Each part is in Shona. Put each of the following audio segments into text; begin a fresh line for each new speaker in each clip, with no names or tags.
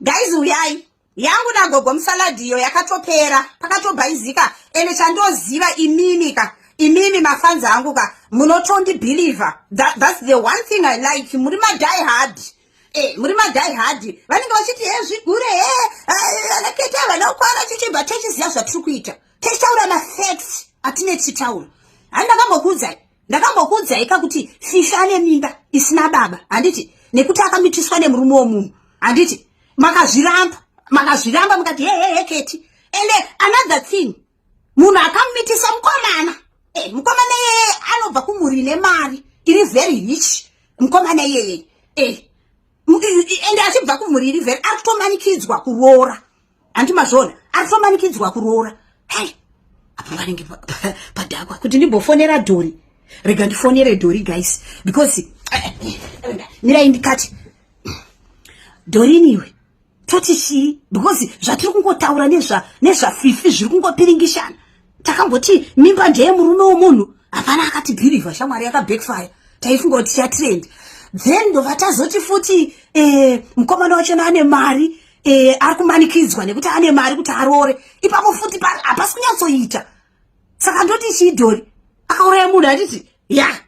guys uyai yangu nagogo musaladi iyo yakatopera pakatobhaizika ende chandoziva imimi ka imimi mafanzi angu ka munotondibhilivha That, thats the one thing i like muri madai hard Eh, muri madai hard vanenge vachiti he zvigure he eh, eh, anaketa eh, vanakwara chichibva tochiziva zvatiri kuita tichitaura mafacts atine tichitaura handi ndakambokuudzai ndakambokuudzai ka kuti fifi ane mimba isina baba handiti nekuti akamitiswa nemurume womunhu handiti makazviramba makazviramba mukati hehehe keti ende another thing munhu akamumitisa mukomana e, mukomana iyeye anobva kumhuri ine mari iri very rich mukomana iyeye e, ende achibva kumhuri iri very ari kutomanikidzwa kuroora handi mazvona ari kufambanikidzwa kuroora hai apo panenge padhakwa kuti ndimbofonera dhori rega ndifonere dhori guys because mirai ndikati dhoriniwe toti chii because zvatiri kungotaura nezvafifi zviri kungopiringishana takangoti mimba ndeye murume womunhu hapana akati bhirivha shamwari yakabackfire taifunga kuti tichatrend then ndobva tazoti futi eh, mukomana wachona ane mari eh, ari kumanikidzwa nekuti ane mari kuti aroore ipapo futi hapasi kunyatsoita saka ndoti chidhori akauraya munhu atiti ya yeah.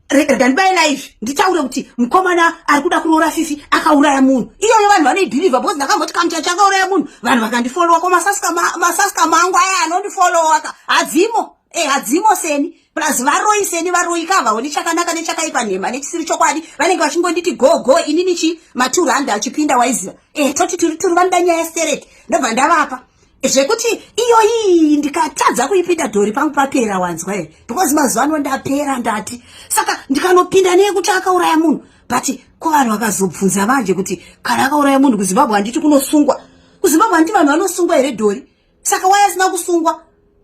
rega ndibaye naivi nditaure kuti mukomana ari kuda kuroora fifi akauraya munhu iyoyo vanhu vanoibhilivha bcause ndakamboti kamucha chakauraya munhu vanhu vakandifolowa ko masaska mangu aya anondifolowa ka hadzimo e hadzimo seni plus varoyi seni varoyi ka havaoni chakanaka nechakaipa nhema nechisiri chokwadi vanenge vachingonditi go go ini nichi maturanda achipinda waiziva e toti turi turi vanoda nyaya stereki ndobva ndavapa zvekuti iyoyi ndikatadza kuipinda dhori pangu papera wanzwa here because mazuva ano ndapera ndati saka ndikanopinda neyekuti akauraya munhu but ko vanhu vakazobvunza manje kuti kana akauraya munhu kuzimbabwe handiti kunosungwa kuzimbabwe handiti vanhu vanosungwa here dhori saka waye asina kusungwa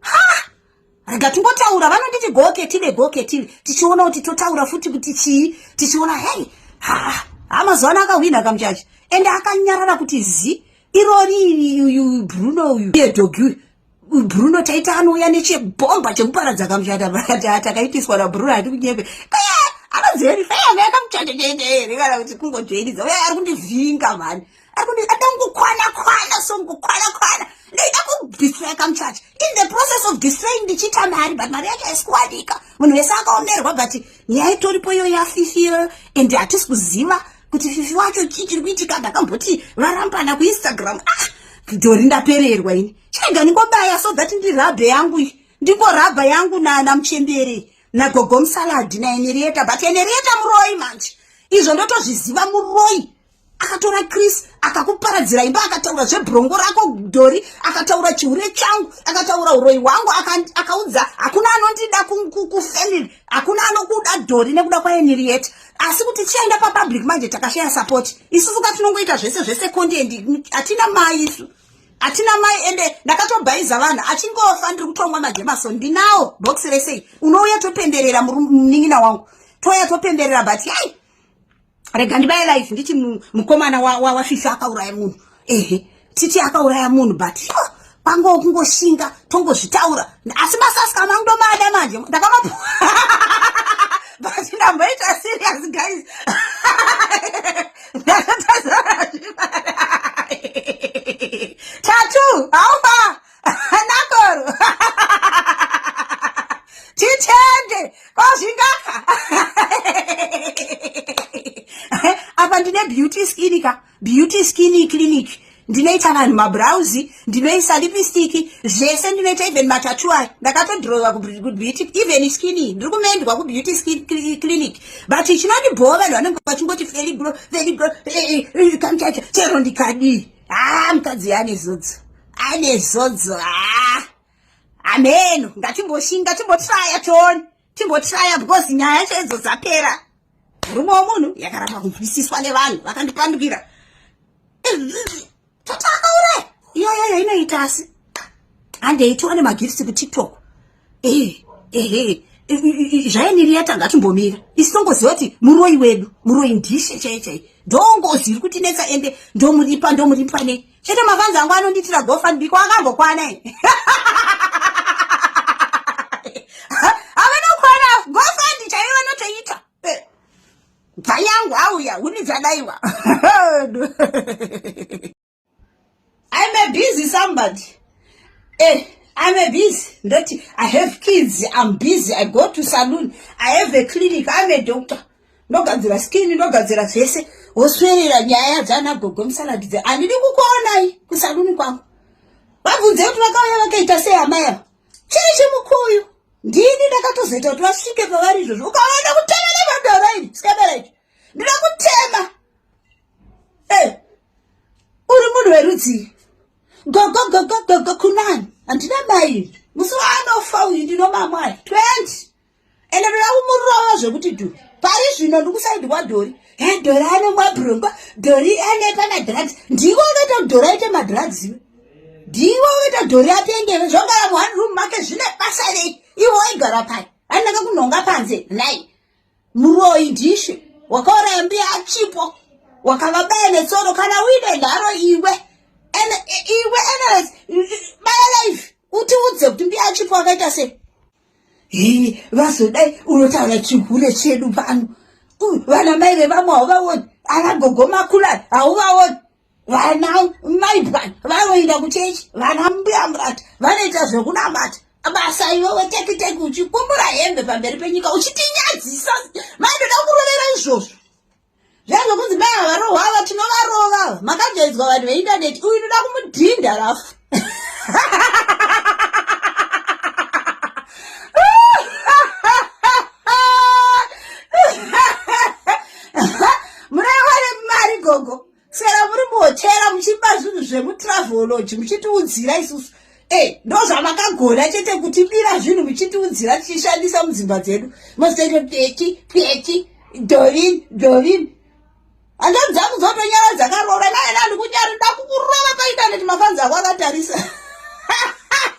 ha rega tingotaura vanonditi goketive goketive tichiona kuti totaura futi kuti chii tichiona hei haa amazuva ano akahwina kamuchachi ende akanyarara kuti zi irori uyu bruno uyu iye dhogi uyu bruno taita anouya nechebhomba chekuparadza kamuchata takaitiswa nabruno hati kunyepe anoziva kuti faya akamuchata chaita here kana kuti kungodzvairidza uya ari kundivhinga mhani kukwana kwana song kukwana kwana ndaida kudistra kamuchacha in the process of distrain ndichiita mari but mari yacho haisi kuwanika munhu wese akaomerwa but nyaya itoripo iyo yafifi and hatisi kuziva kuti fifi wacho chii chiri kuitika ndakamboti varambana kuinstagram ah dhori ndapererwa ini chega ndingobaya so that ndi rabhe yangu iyi ndingorabha yangu nana muchemberi nagogo musaladi naenerieta but enerieta muroyi manje izvo ndotozviziva muroyi akatora chris akakuparadzira imba akataura zvebrongo rako dhori akataura chihure changu akataura uroyi hwangu akaudza hakuna anondida kufamily hakuna anokuda dhori nekuda kwaeniriet asi kuti tichaenda papublic manje takashaya support isusu ka tinongoita zvese zvese kondendi hatina mai isu hatina mai ende ndakatobhaiza vanhu achingofa ndiri kutongwa majemaso ndinawo box resei unouya topenderera munin'ina wangu touya topenderera but yai rega ndibaye life nditi mukomana wafifi akauraya munhu ehe titi akauraya munhu but pango kungoshinga tongozvitaura asi masaska mangu ndomada manje ndakamapu but ndamboita serious guys ndakatazaa tatu haufa nakoro titende kozvingaka apa ndine beauty skin ka beauty skin clinic ndinoita vanhu mabrauzi ndinoisa lipstick zvese ndinoita even matatu ayo ndakatodrova kubeauty even skin ndiri kumendwa kubeauty skin clinic but chinondibhowa vanhu vanenge vachingoti feligro feligro eh, eh, eh, kamchacha chero ndikadii haa ah, mukadzi yane zudzo ane zodzo haa hameno ngatimboshinga timbotraya tione timbotraya because nyaya yacho idzo dzapera murume womunhu yakaramba kunzwisiswa nevanhu vakandipandukira tataakauraya iyoyoyo inoita asi handei tione magifts kutiktok zvainiri yatanga timbomira isi tongoziva kuti muroi wedu muroi ndishe chai chai ndongozi iri kutinetsa ende ndomuripa ndomuripa ne chete mafanzi angu anondiitira gofandbiko akambokwana avanokwana gofandi chaive vanotoita bvanyangu auya huni dzadaiwa I'm a busy somebody. Eh, I'm a busy. Not, I have kids. I'm busy. I go to saloon. I have a clinic. I'm a doctor. ndogadzira skin ndogadzira zvese woswerera nyaya dzana gogo musaladi dze handidi kukuonai kusaluni kwangu vabvunze kuti vakauya vakaita sei amai ava chiri chimukuyu ndini ndakatozoita kuti vasvike pavari izvozvo ukaona kutema nemadoro ini sikabera icho ndinokuti uri munhu werudzii gogogogogogo kunani handina mai musi waanofa uyu ndinomamwai 20 ende ndoda kumurova zvekuti du pari zvino ndikusaidi kwadhori he dhori anomwa brongwa dhori anepa madrugs ndiwo unoita kuti dhori aite madrugs iwe ndiwo unoita kuti dhori apengeve zvogara muone room make zvine basa rei iwo waigara pai anaka kunhonga panze nai Muroyi dhishe wakauraya mbiya achipo wakavabaya netsoro kana uine nharo iwe and iwe anyways baya life utiudze kuti mbiya achipo akaita sei hii vazodai unotaura chihure chedu pano vana mai vevamwe hauvaoni ana gogo makulani hauvaoni vana mai bwana vanoenda kuchechi vana mbuya murati vanoita zvekunamata basa iwewe teki teki uchikumbura hembe pamberi penyika uchitinyadzisa mai ndoda kurovera izvozvo zvange kunzi mai havarohwa ava tinovarova ava makajaidzwa vanhu veindaneti uyu ndoda kumudhinda rafu Sera muri muhotera muchipa zvinhu zvemutraveology muchitiudzira isusu e ndozvamakagona chete kutibira zvinhu muchitiudzira tichishandisa mudzimba dzedu mozitoita peti peti dorin dorin hanzvadzi dzangu dzotonyara dzakaroora naye nandikunyari ndakukurova paintaneti mafanzi ako akatarisa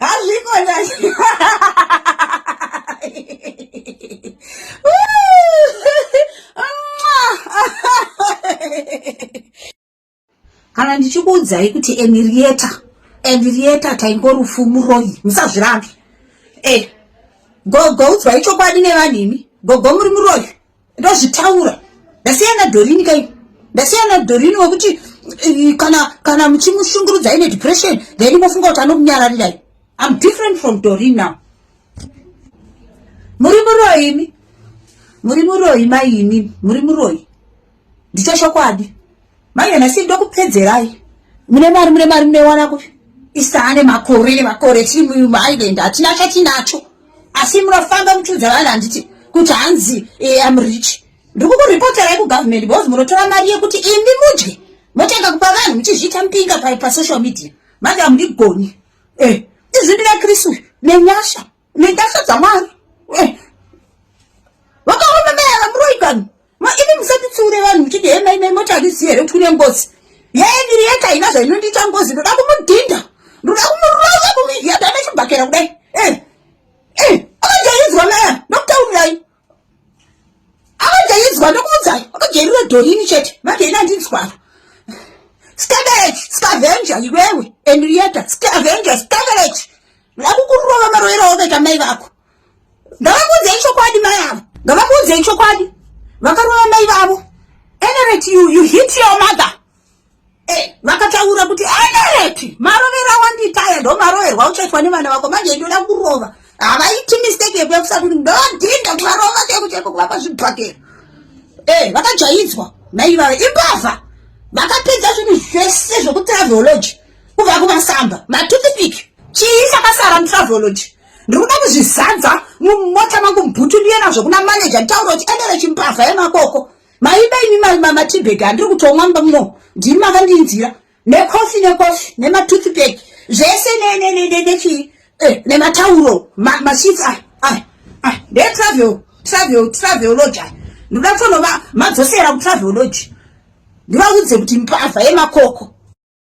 hazviko kana ndichikuudzai kuti enirieta enirieta taingorufu muroyi musazvirambi e eh, gogo udzwai chokwadi nevanhu imi gogo muri muroyi ndozvitaura ndasiyana dorini kai ndasiyana dorini wekuti eh, kana kana muchimushungurudza ine depression then imofunga kuti anokunyararirai im different from dorini now muri muroyi imi muri muroyi maimi muri muroyi ndicho chokwadi manje nhasi ndokupedzerai mune mari mune mari munewana kupi isane makore nemakore tiri muisland hatina chatinacho asi munofamba muchiudza vanhu handiti kuti hanzi eh, am rich ndikukuripotera ekugovernment because munotora mari yekuti imi mudye motanga kupa vanhu muchizviita mpinga pasocial media manje hamundigoni eh, izvi ndinakristu nenyasha nentasha dzamwari eh. vakaona mayava muroi kani imi musatitsiure vanhu muchiti he mai mai moti handizivi here kuti kune ngozi yeye miri yete haina zvainondiita ngozi ndoda kumudhinda ndoda kumurova kumiiadana chibhakera kudai eh. eh. akajaidzwa maya ndokutaurirai akajaidzwa ndokuudzai akajairira dhorini chete manje ina ndinzwaro scanderage scavenger iwewe henrieta scavenger scanderage ndakukurova maroero aokaita mai vako ngavakuudzei chokwadi mai avo ngavakuudzei chokwadi vakarova mai vavo enerate you, you hit your mother Eh, vakataura kuti enereti marovero awandiita aya ndo maroverwa uchaitwa nevana vako manje ndoda kurova havaiti mistake yekuya kusati kuti ndodhinda kuvarova cheko cheko kuvapa zvibhakera e eh, vakajaidzwa naivava imbavha vakapedza zvinhu zvese zvekutraveology kubva kumasamba matutipiki chii chakasara mutraveology ndiri kuda kuzvizadza mumota mangu mbutu ndiye nazvo kuna manager nditaura kuti enereti mbavha yemakoko maiba imi matibag handiri kutomwa mba muno ndimi makandinzira necofi necofi nematoothpack zvese nechii eh, nematauro masheets aya aya aya ndetravel travel travel lodge aya ndoda kutonova madzosera kutravel lodge ndivaudze kuti mbavha yemakoko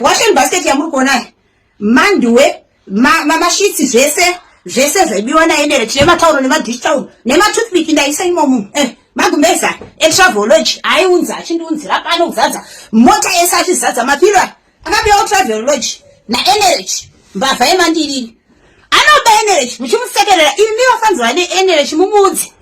washen basket yamuri kuonayo manduwe mashitsi ma, ma zvese zvese zvaibiwa naenere tine matauro nemadish town nematoothpick ndaisa imomu eh, magumbeza etravology aiunza achindiunzira pano kuzadza mota yese achizadza mapira akapiwa travel lodge naenerech mbavha yemandiriri anoba enerech muchimusekerera imi vafanzwa neenerech mumuudzi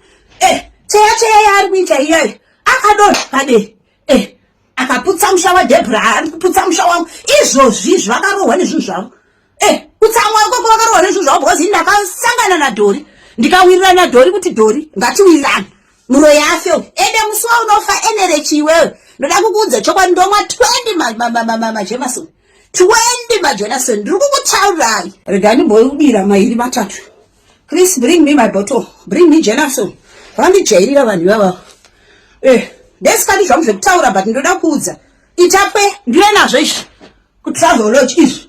eh cheya cheya yaari kuita iyoyo akadona paderi eh akaputsa musha wadebra ari kuputsa musha wangu izvozvi izvo vakarohwa nezvinhu zvavo eh kutsamwa ikoko vakarohwa nezvinhu zvavo because ini ndakasangana nadhori ndikawirira nadhori kuti dhori ngatiwirirane muroyi afe ende musi waunofa enerechi iwewe ndoda kukuudza chokwadi ndomwa 20 majenason 20 majenason ndiri kukutaurirai rega ndimboibira mairi matatu chris bring me my bottle bring me jenason vandijairira vanhu ivavavo eh ndesikati zvangu zvekutaura but ndoda kuudza itapwe ndive nazvo izvi kutravelodge izvi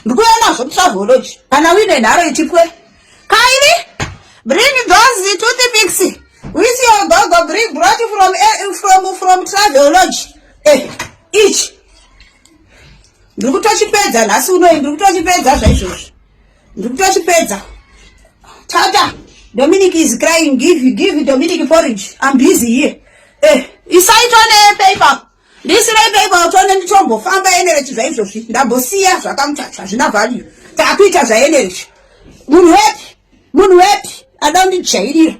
ndikuya nazvo kutravelodge kana uine nharo itipwe kaini bring those to the mix with your gogo bring brought from, eh, from, from travelodge eh, ichi ndiri kutochipedza nhasi unoi ndiri kutochipedza zvaizvozvi ndiri kutochipedza tata dominic is crying give, give dominic porridge i'm busy here eh, isaitwa nepaper ndisireiko ipapo tione nditombofamba energy zvaizvozvi ndambosiya zvakamutacho hazvina value taakuita zvaenergy munhu wepi munhu wepi ada kundijairira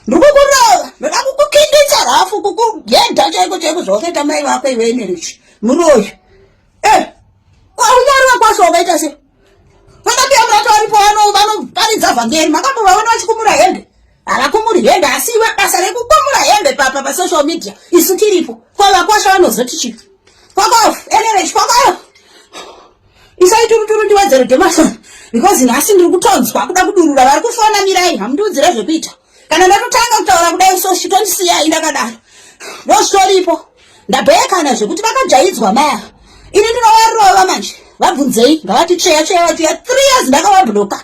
ndikukurova ndoda kukukinditsa rafu kukugedha chaiko chaiko zvaukaita mai vako iwe energy muroyi e eh, kwaunyariwa kwaso wakaita se vakapiyamurati varipo vanoparidza vhangeri makambovaona vachikumura hende havakumuri hembe asi iwe basa rekukumura hembe papa pasocial media isu tiripo ko vakwasha vanozoti chii fokof enerechi fokof isai turuturu ndiwedzere demason because nhasi ndiri kutonzwa kuda kudurura vari kufona mirai hamundiudzire zvekuita kana ndatotanga kutaura kudai so chitondisiyai ndakadaro ndozvitoripo ndabheyekana zvekuti vakajaidzwa maya ini ndinovarova manje vabvunzei ngavati tsveya tsveya vatuya three years ndakavabhuloka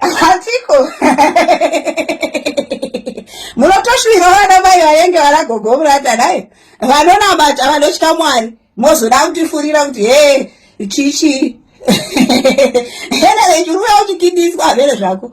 hatiko munotoshuvira vana mai vaenge vana gogo muranda naye vanonamata vanotya mwari mozoda kutifurira kuti hee chichii hena vechiruya uchikidiswa hamene zvako